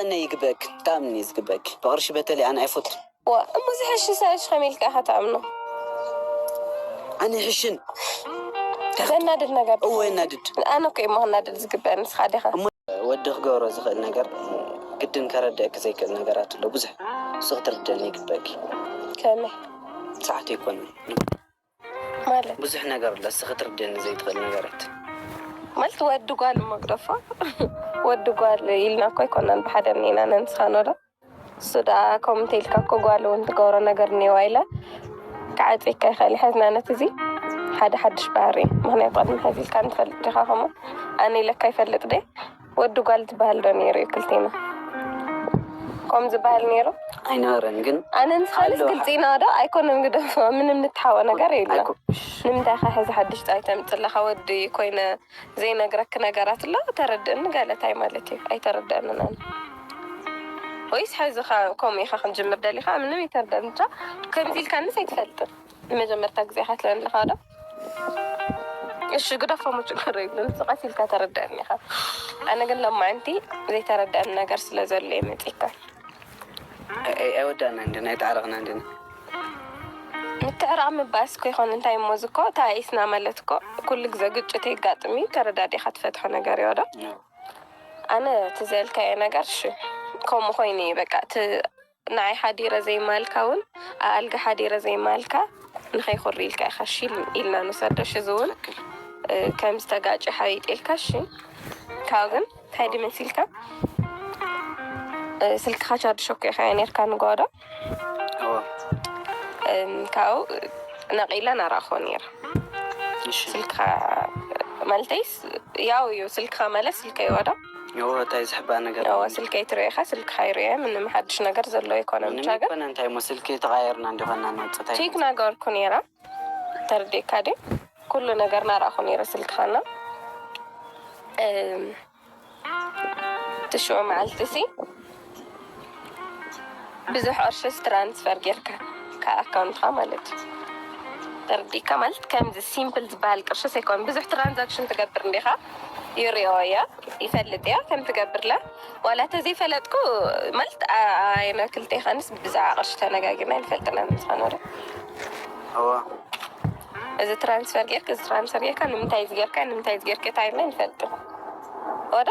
ኣነ ይግበእክ ክኣምን እየ ዝግበእክ ብቅርሺ በተለይ ኣነ ኣይፎቱን። ዋእ እሞ ዝሐሽሰ እሽ ከመይ ኢልካ ኢካ ትኣምኖ። ኣነ ይሕሽን ዘናድድ ነገር እወ የናድድ። ኣነ እኮ እሞ ክናደድ ዝግበእ ንስካ ዲካ። ወዲ ክገብሮ ዝክእል ነገር ግድን ከረድእክ ዘይክእል ነገራት ኣሎ ብዙሕ ንሱ ክትርድእኒ ይግበእክ። ከመይ ሰዓቱ ኣይኮነን። ማለት ብዙሕ ነገር ኣሎ እስኪ ክትርድእኒ ዘይትክእል ነገራት። ማለት ወዲ ጓል እሞ ግደፎ ወዲ ጓል ኢልና እኮ ኣይኮናን ብሓደ እኒኤና ነንስኻ ኖዶ እሱ ደኣ ከምኡ እንተኢልካ እኮ ጓል እውን ትገብሮ ነገር እኒኤዋ ኢለ ክዓፅየካ ይኽእል ይሓዝና ነቲ እዚ ሓደ ሓድሽ ባህሪ እዩ ምክንያቱ ቅድሚ ሕዚ ኢልካ ንፈልጥ ዲኻ ከምኡ ኣነ ኢለካ ይፈልጥ ደ ወዲ ጓል ዝበሃል ዶ ነይሩ እዩ ክልቴና ኮም ዝበሃል ነይሩ ኣይነበረን ግን ኣነ ንስኻልስ ግልፂ ኢና ዶ ኣይኮነን ግደፎ ምንም ንትሓወ ነገር የለ ንምንታይ ኸ ሕዚ ሓድሽ ጣይ ተምፅለኻ ወዲ ኮይነ ዘይነግረክ ነገራት ኣሎ ተረድእኒ ገለ ታይ ማለት እዩ ኣይተረድአንን ኣነ ወይስ ሕዚ ከምኡ ኢኻ ክንጅምር ደሊኻ ምንም ይተርደን ብቻ ከምዚ ኢልካንስ ኣይትፈልጥን ንመጀመርታ ግዜ ኢኻ ትለኒ ኣለኻ ዶ እሺ ግደፎሞ ችግር የብሉን እዚ ቀስ ኢልካ ተረደኣኒ ኢካ ኣነ ግን ለማዓንቲ ዘይተረደኣኒ ነገር ስለ ዘሎ እየ መፂካ ኣይወዳእናን ድና ኣይተዓረቅናን ድና ምትዕራቅ ምባእስ እኮ ይኮን እንታይ እሞ እዚ እኮ ተኣኢስና ማለት እኮ ኩሉ ግዘ ግጭት የጋጥም እዩ ተረዳዲካ ትፈትሖ ነገር እዮ ዶ ኣነ እቲ ዘልካዮ ነገር እሺ ከምኡ ኮይኑ እዩ በቃ እቲ ንዓይ ሓዲረ ዘይማልካ እውን ኣኣልጋ ሓዲረ ዘይማልካ ንኸይ ኩሪ ኢልካ ኢኻ እሺ ኢልና ንውሰዶ እሺ እዚ እውን ከም ዝተጋጨ ሓቢጥ ኢልካ እሺ ካብኡ ግን እንታይ ድዩ መሲልካ ስልክኻ ቻርጅ ሸኮ ኢኻ ነርካ ንጓዶ ካብኡ ነቂላ ናራኣኾ ነይረ ስልክኻ ማለተይስ ያው እዩ ስልክኻ ማለት ስልከይ ዋዶ እወ ታይ ዝሕባእ ነገር ኣለኒ። እወ ስልከይ ትሪኦ ኢካ ስልክካ ይሪኦ ምንም ሓድሽ ነገር ዘሎ ኣይኮነን ብቻ ግን። ምንም ኣይኮነን እንታይ እሞ ስልኪ ተቀያይርና እንዲኮና ንወፅእ ታይ። ቼክ ናገበርኩ ነይረ ተርዲእካ ድዩ ኩሉ ነገር ናረኣኩ ነይረ ስልክካ እና። ትሽዑ መዓልቲ ሲ። ብዙሕ ቅርሽስ ትራንስፈር ጌርካ ካብ ኣካውንትካ ማለት እዩ ተረዲእካ ማለት ከምዚ ሲምፕል ዝብሃል ቅርሽስ ኣይኮነን ብዙሕ ትራንዛክሽን ትገብር እንዲካ ይሪኦ እየ ይፈልጥ እየ ከም ትገብርለ ዋላ ተዘይ ፈለጥኩ ማለት ኣየና ክልቴካንስ ብዛዕባ ቅርሺ ተነጋጊርና ኣይንፈልጥን ኢና ንስካ ኖረ እዚ ትራንስፈር ጌርክ እዚ ትራንስፈር ጌርካ ንምንታይ እዚ ጌርካ ንምንታይ እዚ ጌርካ ኢልና ኣይንፈልጥን ወደ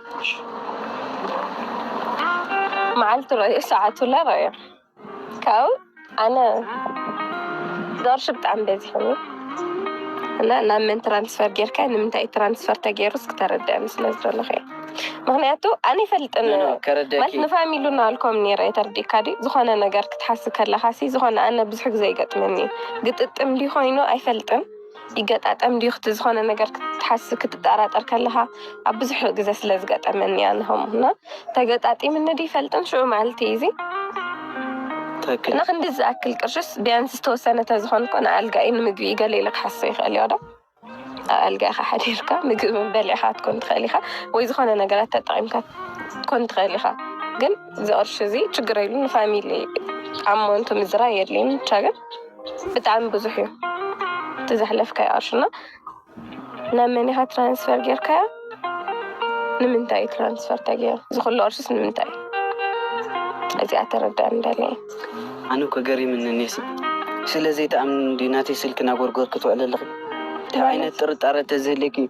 መዓልቱ ረኣዮ ሰዓቱ ላ ረኣዮ ካብኡ ኣነ ዛርሽ ብጣዕሚ በዚሕኒ እና ናብ መን ትራንስፈር ጌርካ ንምንታይ ትራንስፈር ተገይሩ እስኪ ተረድአኒ ስለ ዝደለኹ እየ ምክንያቱ ኣነ ይፈልጥን ማለት ንፋሚሉ ናልኮም ነረ የተርዲካ ዲ ዝኾነ ነገር ክትሓስ ከለካ ሲ ዝኾነ ኣነ ብዙሕ ግዜ ይገጥመኒ ግጥጥም ዲ ኮይኑ ኣይፈልጥን ይገጣጠም ድዩ ክት ዝኾነ ነገር ክትሓስ ክትጠራጠር ከለኻ ኣብ ብዙሕ ግዘ ስለ ዝገጠመኒ እያ ንኸም እና ተገጣጢምኒ ድ ይፈልጥን ሽዑ መዓልቲ እዚ እና ክንዲ ዝኣክል ቅርሽስ ቢያንስ ዝተወሰነ ተዝኾን ኮ ንኣልጋኢ ንምግቢ ገለ ኢለ ክሓሶ ይኽእል እዮ ዶ ኣብ ኣልጋኢኻ ሓዲርካ ምግቢ በሊዕኻ ትኮን ትኽእል ኢኻ ወይ ዝኾነ ነገራት ተጠቒምካ ትኮን ትኽእል ኢኻ ግን ዝቕርሽ እዚ ችግር የሉ ንፋሚሊ ኣብ ሞንቱ ምዝራ የድልይን ብቻ ግን ብጣዕሚ ብዙሕ እዩ እቲ ዘሕለፍካዮ ቅርሺ እና ናብ መን ኢኻ ትራንስፈር ጌርካዮ? ንምንታይ እዩ ትራንስፈር ተገይሩ? እዚ ኩሉ ቅርሽስ ንምንታይ እዩ? እዚኣ ተረዳእኒ ደልየ ኣነ እኮ ገሪምኒ እኔሲ ስለ ዘይትኣምኒ እንድዩ ናተይ ስልኪ እናጎርጎርኪ ትውዕሊ ኣለኺ እንታይ ዓይነት ጥርጣረ ተዝህልየኪ እዩ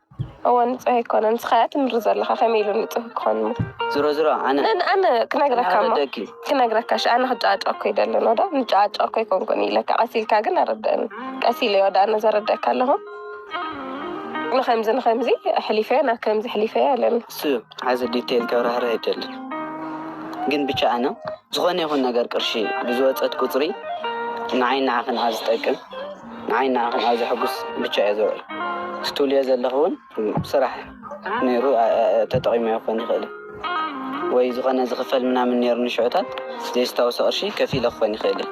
እወ ንጹህ ኣይኮነን ንስኻያ ትምሪ ዘለኻ ከመይ ኢሉ ንጹህ ክኾን እሞ ዝሮ ዝሮ ኣነ ነን ኣነ ክነግረካ እሞ ኣረደኪ ክነግረካ እሺ ኣነ ክጨቃጨቀኩ ኣይደልን ወዳ ንጨቃጨቀኩ ኣይኮንኩን ኢለካ ቀስ ኢልካ ግን ኣረደእኒ ቀስ ኢለ ወዳ ኣነ ዘረደካ ኣለኹ ንከምዚ ንከምዚ ሕሊፈዮ ናብ ከምዚ ሕሊፈዮ ኣለኒ እሱ ሓዚ ዲቴይል ከብራህርህ ኣይደልን ግን ብቻ ኣነ ዝኾነ ይኹን ነገር ቅርሺ ብዝወፀት ቁፅሪ ንዓይ ንዓኽን ኣብ ዝጠቅም ንዓይን ንዓኽን ኣብ ዘሐጉስ ብቻ እየ ዝውዕል ስትብልዮ ዘለኺ ውን ኣብ ስራሕ ነይሩ ተጠቂመዮ ክኾን ይኽእል እዩ ወይ ዝኾነ ዝኽፈል ምናምን ነይሩኒ ሽዑታት ዘይስታውሶ ቅርሺ ከፊለ ክኾን ይኽእል እየ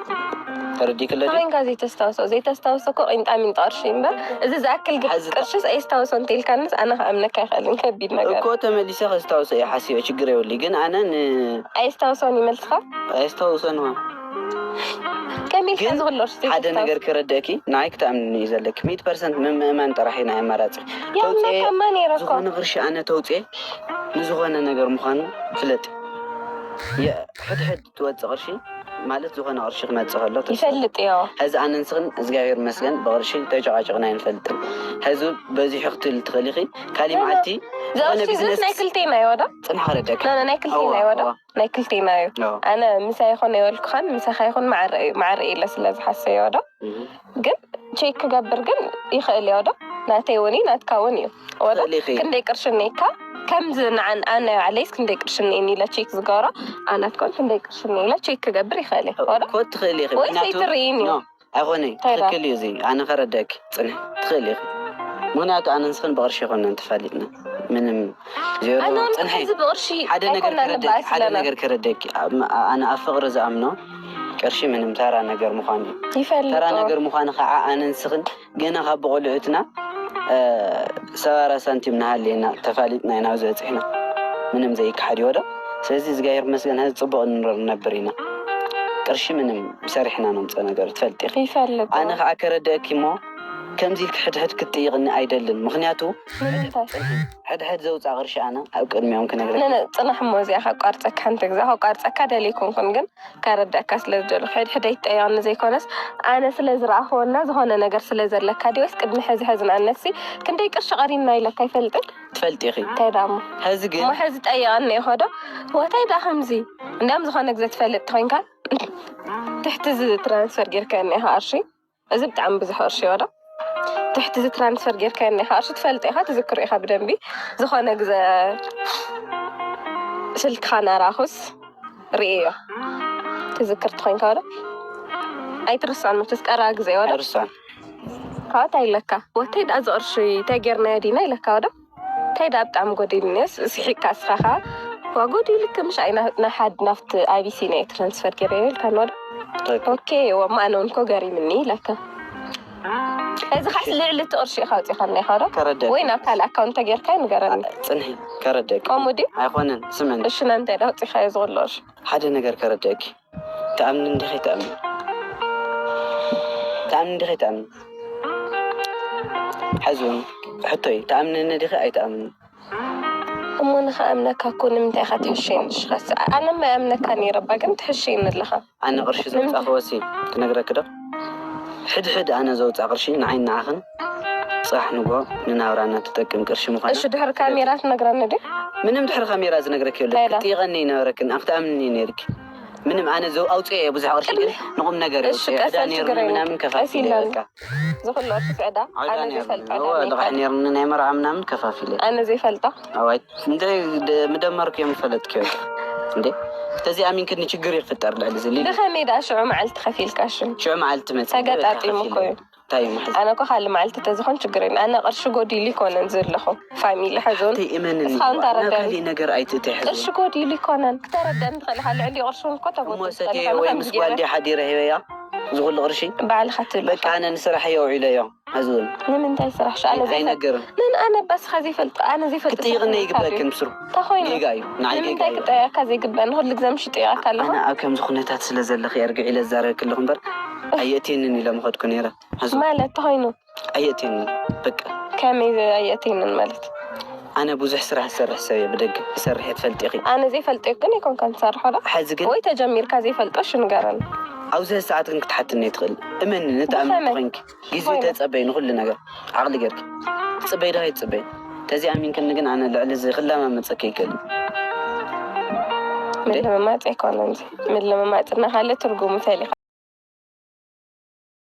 ተረዲእክለ ድዩ? እንታይ ኮንካ ዘይተስታውሶ ዘይተስታውሶ እኮ ቂንጣሚንጢ ቅርሺ እዩ እምበር እዚ ዝኣክል ቅርሽስ ኣየስታውሶን እንተኢልካንስ ኣነ ክኣምነካ ኣይክእልን ከቢድ ነገር እዩ። እኮ ተመሊሰ ከስታውሶ እየ ሓሲበ ችግር የብሉይ ግን ኣነ ን ኣየስታውሶን እዩ መልስኻ? ኣየስታውሶን እወ። ሓደ ነገር ክረደኪ ንይ ክተኣምኒ እዩ ዘለኪ ሚት ፐርሰንት ምምእማን ጥራሕ ናይ ኣማራፂ ተውፅዝኮነ ቅርሺ ኣነ ተውፅኤ ንዝኮነ ነገር ምኳኑ ፍለጥ ሕድሕድ ትወፅ ቅርሺ ማለት ዝኮነ ቅርሺ ክመፅእ ከሎ ይፈልጥ እዮ ሕዚ ኣነንስክን እግዚኣብሔር መስገን ብቅርሺ ተጨቃጭቅና ይንፈልጥን ሕዚ በዚሑ ክትል ትኽእሊኺ ካሊእ መዓልቲ ዝነ ቢዝነስ ናይ ክልቴና ይወዳ ፅንሕ ክረደኪ ናይ ክልቴና ይወዳ ናይ ክልቴና እዩ ኣነ ምሳይ ይኹን የበልኩኻን ምሳኻ ይኹን ማዕረ እዩ ማዕረ ኢለ ስለ ዝሓሰዮ ዶ ግን ቼክ ክገብር ግን ይኽእል እዮ ዶ ናተይ እውን እዩ ናትካ እውን እዩ ወላ ክንደይ ቅርሺ እኒካ ከምዚ ንዓን ኣነ ባዕለይስ ክንደይ ቅርሺ እኒኒ ኢለ ቼክ ዝገብሮ ኣናትኩም ክንደይ ቅርሺ እኒ ኢለ ቼክ ክገብር ይኽእል እየ ወላ ትኽእል ኢኺ ወይስ ኣይትርእይን እዩ ኣይኮነይ ትክክል እዩ እዚ ኣነ ከረደእኪ ፅንሒ ትክእሊ ኢኪ ምክንያቱ ኣነ ንስክን ብቅርሺ ኣይኮናን ተፋሊጥና ምንም ዜሮ ፅንሒ ሓደ ነገር ከረደእኪ ሓደ ነገር ከረደእኪ ኣነ ኣብ ፍቅሪ ዝኣምኖ ቅርሺ ምንም ተራ ነገር ምኳኑ እዩ ተራ ነገር ምኳኑ ከዓ ኣነ ንስክን ገና ካብ ብቆልዑትና ሰባራ ሳንቲም ናሃለየና ተፋሊጥና ኢና ኣብዚ በፂሕና ምንም ዘይከሓድ ይወዶ ስለዚ እዝጋሄር ይመስገን ሀዚ ፅቡቅ ንኑር ንነብር ኢና ቅርሺ ምንም ሰሪሕና ነምፅኦ ነገር ትፈልጢ ኢኪ ኣነ ካዓ ከረደእኪ እሞ ከምዚ ኢልኪ ሕድ ሕድ ክትጥይቅኒ ኣይደልን ምክንያቱ ሕድ ሕድ ዘውፃ ቅርሺ ኣነ ኣብ ቅድሚኦም ክነግረኪ ፅናሕ እሞ እዚኣ ከቋርፀካ ሓንቲ ግዜ ከቋርፀካ ደልየ ኣይኮንኩን ግን ከረደእካ ስለ ዝደለኩ ሕድ ሕድ ኣይትጠይቅኒ ዘይኮነስ ኣነ ስለ ዝረኣክዎ እና ዝኮነ ነገር ስለ ዘለካ ድዩ ወይስ ቅድሚ ሀዚ ሀዚ ንኣብነት ክንደይ ቅርሺ ቀሪና ኢለካ ኣይፈልጥን ትፈልጢ ኢኺ እንታይ ደኣ እሞ ሐዚ ግን እሞ ሕዚ ጠይቐኒ ኢኾ ዶ ዋታይ ደኣ ከምዚ እንድያም ዝኾነ ግዘ ትፈልጥ ተኾይንካ ትሕቲ እዚ ትራንስፈር ጌርካየኒ ኢኻ ቅርሺ እዚ ብጣዕሚ ብዙሕ ቅርሺ ዶ ትሕቲ እዚ ትራንስፈር ጌርካየኒ ኢኻ ቅርሺ ትፈልጥ ኢኻ ትዝክሮ ኢኻ ብደንቢ ዝኾነ ግዘ ስልክኻ ናራኹስ ርእየዮ ትዝክር ተኾይንካ ዶ ኣይትርስዖን መቸስ ቀረባ ግዘ ዶ ኣይርስዖን ካኣ ታይ ኢለካ ወተይ ዳኣ እዚ ቅርሺ ታይ ጌርናዮ ዲና ኢለካ ወደ ታይ ዳኣ ብጣዕሚ ጎዲልኒዮስ ስሒቅካ እስኻ ካኣ ዋ ጎዲሉኪ ምሽ ኣይ ናይ ሓድ ናብቲ ኣቢሲንያ እየ ትራንስፈር ጌረዮ ኢልካኒ ወደ ኦኬ ወማ ኣነ ውን እኮ ገሪምኒ ኢለካ እዚ ካስ ልዕሊ እቲ ቅርሺ ኢኻ ኣውፂኻልና ኢኻ ዶ ከረደእ ወይ ናብ ካልእ ኣካውንት ተጌርካዮ ንገረኒ ፅንሒ ከረደእኪ ከምኡ ድዩ ኣይኮነን ስምዕኒ እሺ ናንታይ ዳኣ ኣውፂኻዮ እዚ ኩሉ ቅርሺ ሓደ ነገር ከረደእኪ ትኣምንን ዲኺ ትኣምንን ትኣምንን ዲኺ ትኣምንን ሕዝውን ሕቶይ ትኣምንኒ ዲኺ ኣይትኣምንን እሞ ንኸኣምነካ እኮ ንምንታይ ኢኻ ትሕሸኒ ሽኻስ ኣነ ማይ ኣምነካ ነይረ እባ ግን ትሕሸኒ ኣለኻ ኣነ ቅርሺ ዘምፃእኽወሲ ክነግረኪ ዶ ሕድ ሕድ ኣነ ዘውጻ ቅርሺ ንዓይን ንዓኽን ጻሕ ንግሆ ንናብራና ትጠቅም ቅርሺ ምዃና ፍለጢ። እሺ ድሕሪ ካሜራ ትነግረኒ ድዩ? ምንም ድሕሪ ካሜራ ዝነግረኪ የለን ክትጥይቀኒ ይነበረክን ኣብ ክትኣምንኒ ነይርኪ ምንም ኣነ ዘው ኣውጽኤ እየ ብዙሕ ቅርሺ ግን ንቁም ነገር እየ ኣውጽኤ ዕዳ ነይሩኒ ምናምን ከፋፊለ እየ በቃ ዝኩሉ ቅርሺስ ዕዳ ኣነ ዘይፈልጣ ዕዳ ልቃሕ ነይሩኒ ናይ መርዓ ምናምን ከፋፊለ ኣነ ዘይፈልጣ። እንታይ ምደመርኩ እዮም ፈለጥክዮ እንዴ ተዚ ኣሚንክኒ ችግር ይፍጠር ልዕሊ እዚ ሊሊ ብኸመይ ደኣ ሽዑ መዓልቲ ከፊልካ እሺ ሽዑ መዓልቲ ትመጽእ ተገጣጢሙ እኮ እዩ እንታይ እዩ መሕዘ ኣነ እኮ ካልእ መዓልቲ ተዝኾን ችግር የለን ኣነ ቅርሺ ጎዲሉ ይኮነን ዘለኹ ፋሚሊ ሕዞን እቲ እመንኒ እስኻ እውን ናብ ተረዳኒ ካልእ ነገር ኣይትእተ ሕዚ ቅርሺ ጎዲሉ ይኮነን ክተረዳኒ ትኽእል ኢኻ ልዕሊ ቅርሺ እውን እኮ እሞ ተጎድል ትኽእል ሰትየ ኢኻ ወይ ምስ ንኸምዚ ጓል ገይረ ድየ ሓዲረ ሂበያ እዚ ኩሉ ቅርሺ ባዕልኻ ትብል በቃ ኢኻ ኣነ ንስራሕ እየ ኣውዒለዮ ሐዚ ውን ንምንታይ ስራሕ ሻዕለ ዘይፈልጥ ኣይነገርን መን ኣነ እባ እስኻ ዘይፈልጥ ኣነ ዘይፈልጥ ሰብ ክትጥይቕኒ ክብለካ ድዩ ኣይግበክን ብስሩ እንተኾይኑ ጌጋ እዩ ንዓይ ጌጋ ንምንታይ እዩ ክጠይቐካ ዘይግበእ ንኹሉ ግዘ ምሽ ይጥይቐካ ኣለኹ ኣነ ኣብ ከምዚ ኩነታት ስለ ዘለኺ ኣርግዕ ኢለ ዝዛረበኪ ኣለኹ እምበር ኣየእትየንን ኢለ ምኸድኩ ነይረ ሐዚ ውን ማለት ተኾይኑ ኣየእትየንን በቃ። ከመይ ኣየእትየንን ማለት? ኣነ ቡዙሕ ስራህ ዝሰርሕ ሰብ እየ ብደገ ትሰርሕዮ ትፈልጢኪ። ኣነ ዘይፈልጥዮ ግን ኣይኮንካን ትሰርሖ ዶ ሐዚ ግን ወይ ተጀሚርካ ዘይፈልጦ እሺ ንገረኒ። ኣብዝህ ሰዓት ግን ክትሓትኒ ኣይትክእልን እመንኒ ንተኣምኒ ተኮይንኪ ግዝዩ ተፀበይ ንኩሉ ነገር ዓቅሊ ገርኪ ትፅበይ ዶ ኣይትፅበይ ተዘይ ኣሚንክኒ ግን ኣነ ልዕሊ እዝህ ክለማመፀኪ ኣይክእልን እንዴ። ምልምማፅ ኣይኮነን እዙይ ምልምማፅ እና ካለ ትርጉሙ ፈሊካ።